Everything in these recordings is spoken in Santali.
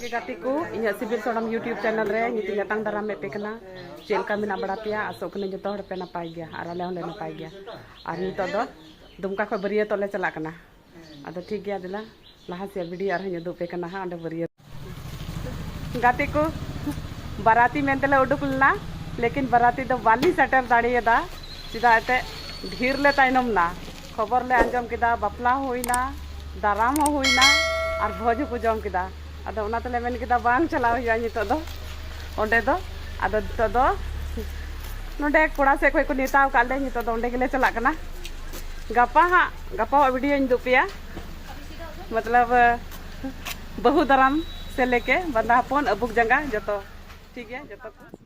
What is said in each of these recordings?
ᱜᱮ ᱜᱟᱛᱮ ᱠᱚ ᱤᱧᱟᱹᱜ ᱥᱤᱵᱤᱞ ᱥᱚᱲᱚᱢ ᱤᱭᱩᱴᱤᱭᱩᱵᱽ ᱪᱮᱱᱮᱞ ᱨᱮ ᱧᱤᱛᱤ ᱧᱟᱛᱟᱝ ᱫᱟᱨᱟᱢ ᱢᱮᱫ ᱯᱮ ᱠᱟᱱᱟ ᱪᱮᱫ ᱞᱮᱠᱟ ᱢᱮᱱᱟᱜ ᱵᱟᱲᱟ ᱯᱮᱭᱟ ᱟᱥᱚᱜ ᱠᱟᱹᱱᱟᱹᱧ ᱡᱚᱛᱚ ᱦᱚᱲ ᱯᱮ ᱱᱟᱯᱟᱭ ᱜᱮᱭᱟ ᱟᱨ ᱟᱞᱮ ᱦᱚᱸᱞᱮ ᱱᱟᱯᱟᱭ ᱜᱮᱭᱟ ᱟᱨ ᱱᱤᱛᱚᱜ ᱫᱚ ᱫᱩᱢᱠᱟ ᱠᱷᱚᱱ ᱵᱟᱹᱨᱭᱟᱹᱛᱚᱜ ᱞᱮ ᱪᱟᱞᱟᱜ ᱠᱟᱱᱟ ᱟᱫᱚ ᱴᱷᱤᱠ ᱜᱮᱭᱟ ᱫᱮᱞᱟ ᱞᱟᱦᱟ ᱥᱮᱫ ᱵᱷᱤᱰᱤᱭᱳ ᱟᱨᱦᱚᱸᱧ ᱩᱫᱩᱜ ᱯᱮ ᱠᱟᱱᱟ ᱦᱟᱸᱜ ᱚᱸᱰᱮ ᱵᱟᱹᱨᱭᱟᱹᱛ ᱜᱟᱛᱮ ᱠᱚ ᱵᱟᱨᱟᱛᱤ ᱢᱮᱱᱛᱮᱞᱮ ᱩᱰᱩᱠ ᱞᱮᱱᱟ ᱞᱮᱠᱤᱱ ᱵᱟᱨᱟᱛᱤ ᱫᱚ ᱵᱟᱞᱤᱧ ᱥᱮᱴᱮᱨ ᱫᱟᱲᱮᱭᱟᱫᱟ ᱪᱮᱫᱟᱜ ᱮᱱᱛᱮᱫ ᱰᱷᱮᱨ ᱞᱮ ᱛᱟᱭᱱᱚᱢ ᱮᱱᱟ ᱠᱷᱚᱵᱚᱨ ᱞᱮ ᱟᱸᱡᱚᱢ ᱠᱮᱫᱟ ᱵᱟᱯᱞᱟ ᱦᱩᱭᱱᱟ ᱫᱟᱨᱟᱢ ᱦᱚᱸ ᱦᱩᱭᱱᱟ ᱟᱨ ᱵᱷᱚᱡᱽ ᱦᱚᱸᱠᱚ ᱡᱚᱢ ᱠᱮᱫᱟ ᱟᱫᱚ ᱚᱱᱟ ᱛᱮᱞᱮ ᱢᱮᱱ ᱠᱮᱫᱟ ᱵᱟᱝ ᱪᱟᱞᱟᱣ ᱦᱩᱭᱩᱜᱼᱟ ᱱᱤᱛᱚᱜ ᱫᱚ ᱚᱸᱰᱮ ᱫᱚ ᱟᱫᱚ ᱱᱤᱛᱚᱜ ᱫᱚ ᱱᱚᱰᱮ ᱠᱚᱲᱟ ᱥᱮᱫ ᱠᱷᱚᱱ ᱠᱚ ᱱᱮᱣᱛᱟ ᱟᱠᱟᱫ ᱞᱮ ᱱᱤᱛᱚᱜ ᱫᱚ ᱚᱸᱰᱮ ᱜᱮᱞᱮ ᱪᱟᱞᱟᱜ ᱠᱟᱱᱟ ᱜᱟᱯᱟ ᱦᱟᱸᱜ ᱜᱟᱯᱟᱣᱟᱜ ᱵᱷᱤᱰᱤᱭᱳᱧ ᱩᱫᱩᱜ ᱯᱮᱭᱟ ᱢᱚᱛᱞᱚᱵ ᱵᱟᱹᱦᱩ ᱫᱟᱨᱟᱢ ᱥᱮ ᱞᱮᱠᱮ ᱵᱟᱸᱫᱟ ᱦᱚᱯᱚᱱ ᱟᱹᱵᱩᱠ ᱡᱟᱸᱜᱟ ᱡᱚᱛᱚ ᱴᱷᱤᱠ ᱜᱮᱭᱟ ᱡᱚᱛᱚ ᱠᱚ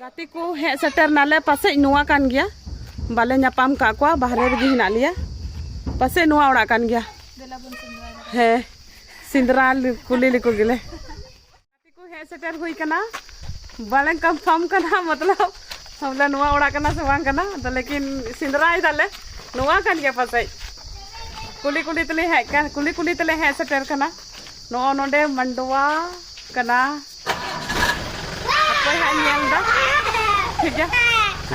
ᱜᱟᱛᱮ ᱠᱚ ᱦᱮᱡ ᱥᱮᱴᱮᱨ ᱱᱟᱞᱮ ᱯᱟᱥᱮᱡ ᱱᱚᱣᱟ ᱠᱟᱱ ᱜᱮᱭᱟ ᱵᱟᱞᱮ ᱧᱟᱯᱟᱢ ᱠᱟᱜ ᱠᱚᱣᱟ ᱵᱟᱦᱨᱮ ᱨᱮᱜᱮ ᱦᱮᱱᱟᱜ ᱞᱮᱭᱟ ᱯᱟᱥᱮᱡ ᱱᱚᱣᱟ ᱚᱲᱟᱜ ᱠᱟᱱ ᱜᱮᱭᱟ ᱦᱮᱸ ᱥᱤᱸᱫᱽᱨᱟ ᱠᱩᱞᱤ ᱞᱮᱠᱚ ᱜᱮᱞᱮ ᱜᱟᱛᱮ ᱠᱚ ᱦᱮᱡ ᱥᱮᱴᱮᱨ ᱦᱩᱭ ᱠᱟᱱᱟ ᱵᱟᱞᱮ ᱠᱚᱱᱯᱷᱟᱨᱢ ᱠᱟᱱᱟ ᱢᱚᱛᱞᱚᱵ ᱵᱚᱞᱮ ᱱᱚᱣᱟ ᱚᱲᱟᱜ ᱠᱟᱱᱟ ᱥᱮ ᱵᱟᱝ ᱠᱟᱱᱟ ᱟᱫᱚ ᱞᱮᱠᱤᱱ ᱥᱤᱸᱫᱽᱨᱟᱭ ᱫᱟᱞᱮ ᱱᱚᱣᱟ ᱠᱟᱱ ᱜᱮᱭᱟ ᱯᱟᱥᱮᱡ ᱠᱩᱞᱤ ᱠᱩᱞᱤ ᱛᱮᱞᱮ ᱦᱮᱡ ᱠᱟᱱ ᱠᱩᱞᱤ ᱠᱩᱞᱤ ᱛᱮᱞᱮ ᱦᱮᱡ ᱥᱮᱴᱮᱨ ᱠᱟᱱᱟ ᱱᱚᱜᱼᱚ ᱱᱚᱰᱮ ᱢᱟᱱᱰᱣᱟ ᱠᱟᱱᱟ ᱚᱠᱚᱭ ᱦᱟᱸᱜ ᱧᱮᱞ ᱫᱟ ᱴᱷᱤᱠ ᱜᱮᱭᱟ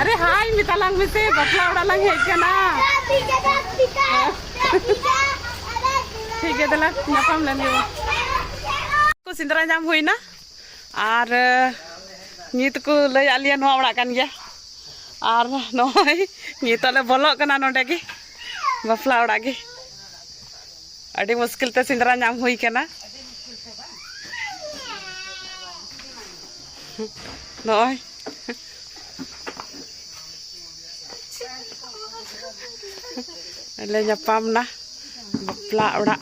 ᱟᱨᱮ ᱦᱟᱭ ᱢᱮᱛᱟᱞᱟᱝ ᱢᱮᱥᱮ ᱵᱟᱯᱞᱟ ᱚᱲᱟᱜ ᱞᱟᱝ ᱦᱮᱡ ᱠᱟᱱᱟ ᱴᱷᱤᱠ ᱜᱮᱭᱟ ᱫᱮᱞᱟ ᱧᱟᱯᱟᱢ ᱞᱮᱱ ᱜᱮ ᱠᱚ ᱥᱮᱸᱫᱽᱨᱟ ᱧᱟᱢ ᱦᱩᱭᱱᱟ ᱟᱨ ᱱᱤᱛ ᱠᱚ ᱞᱟᱹᱭ ᱟᱫ ᱞᱮᱭᱟ ᱱᱚᱣᱟ ᱚᱲᱟᱜ ᱠᱟᱱ ᱜᱮᱭᱟ ᱟᱨ ᱱᱚᱜᱼᱚᱭ ᱱᱤᱛᱚᱜ ᱞᱮ ᱵᱚᱞᱚᱜ ᱠᱟᱱᱟ ᱱᱚᱰᱮ ᱜᱮ ᱵᱟᱯᱞᱟ ᱚᱲᱟᱜ ᱜᱮ ᱟᱹᱰᱤ ᱢᱩᱥᱠᱤᱞ ᱛᱮ ᱥᱮᱸᱫᱽᱨᱟ ᱧᱟᱢ ᱦᱩᱭ ᱠᱟᱱᱟ ᱱᱚᱜᱼᱚᱭ ᱞᱮ ᱧᱟᱯᱟᱢ ᱱᱟ ᱵᱟᱯᱞᱟ ᱚᱲᱟᱜ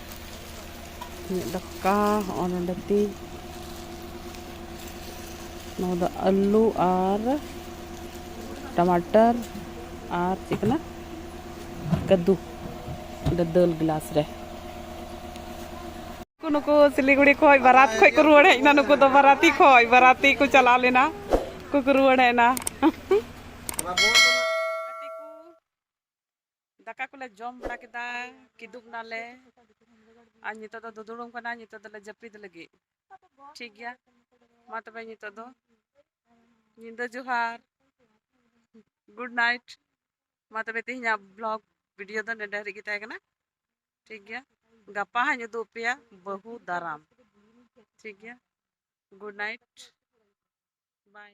ᱤᱧᱟᱹᱜ ᱫᱟᱠᱟ ᱦᱚᱸᱜᱼᱚ ᱱᱚᱰᱮ ᱛᱤᱧ ᱱᱚᱣᱟ ᱫᱚ ᱟᱹᱞᱩ ᱟᱨ ᱴᱟᱢᱟᱴᱟᱨ ᱟᱨ ᱪᱮᱫ ᱠᱟᱱᱟ ᱠᱟᱹᱫᱩ ᱚᱸᱰᱮ ᱫᱟᱹᱞ ᱜᱞᱟᱥ ᱨᱮ ᱱᱩᱠᱩ ᱥᱤᱞᱤᱜᱩᱲᱤ ᱠᱷᱚᱡ ᱵᱟᱨᱟᱛ ᱠᱷᱚᱡ ᱠᱚ ᱨᱩᱣᱟᱹᱲ ᱦᱮᱡ ᱮᱱᱟ ᱱᱩᱠᱩ ᱫᱚ ᱵᱟᱨᱟᱛᱤ ᱠᱷᱚᱡ ᱵᱟᱨᱟᱛᱤ ᱠᱚ ᱪᱟᱞᱟᱣ ᱞᱮᱱᱟ ᱠᱚ ᱨᱩᱣᱟᱹᱲ ᱦᱮᱡ ᱮᱱᱟ ᱫᱟᱠᱟ ᱠᱚᱞᱮ ᱡᱚᱢ ᱵᱟᱲᱟ ᱠᱮᱫᱟ ᱠᱤᱫᱩᱵ ᱱᱟᱞᱮ ᱟᱨ ᱱᱤᱛᱚᱜ ᱫᱚ ᱫᱩᱫᱩᱲᱩᱢ ᱠᱟᱱᱟ ᱱᱤᱛᱚᱜ ᱫᱚᱞᱮ ᱡᱟᱹᱯᱤᱫ ᱞᱟᱹᱜᱤᱫ ᱴᱷᱤᱠ ᱜᱮᱭᱟ ᱢᱟ ᱛᱚᱵᱮ ᱱᱤᱛᱚᱜ ᱫᱚ ᱧᱤᱫᱟᱹ ᱡᱚᱦᱟᱨ ᱜᱩᱰ ᱱᱟᱭᱤᱴ ᱢᱟ ᱛᱚᱵᱮ ᱛᱮᱦᱮᱧᱟᱜ ᱵᱞᱚᱜ ᱵᱷᱤᱰᱤᱭᱳ ᱫᱚ ᱱᱮᱰᱮ ᱦᱟᱹᱨᱤᱡ ᱜᱮ ᱛᱟᱦᱮᱸ ᱠᱟᱱᱟ ᱴᱷᱤᱠ ᱜᱮᱭᱟ ᱜᱟᱯᱟ ᱦᱟᱸᱜ ᱤᱧ ᱩᱫᱩᱜ ᱟᱯᱮᱭᱟ ᱵᱟᱹᱦᱩ ᱫᱟᱨᱟᱢ ᱴᱷᱤᱠ ᱜᱮᱭᱟ ᱜᱩᱰ ᱱᱟᱭᱤᱴ ᱵᱟᱭ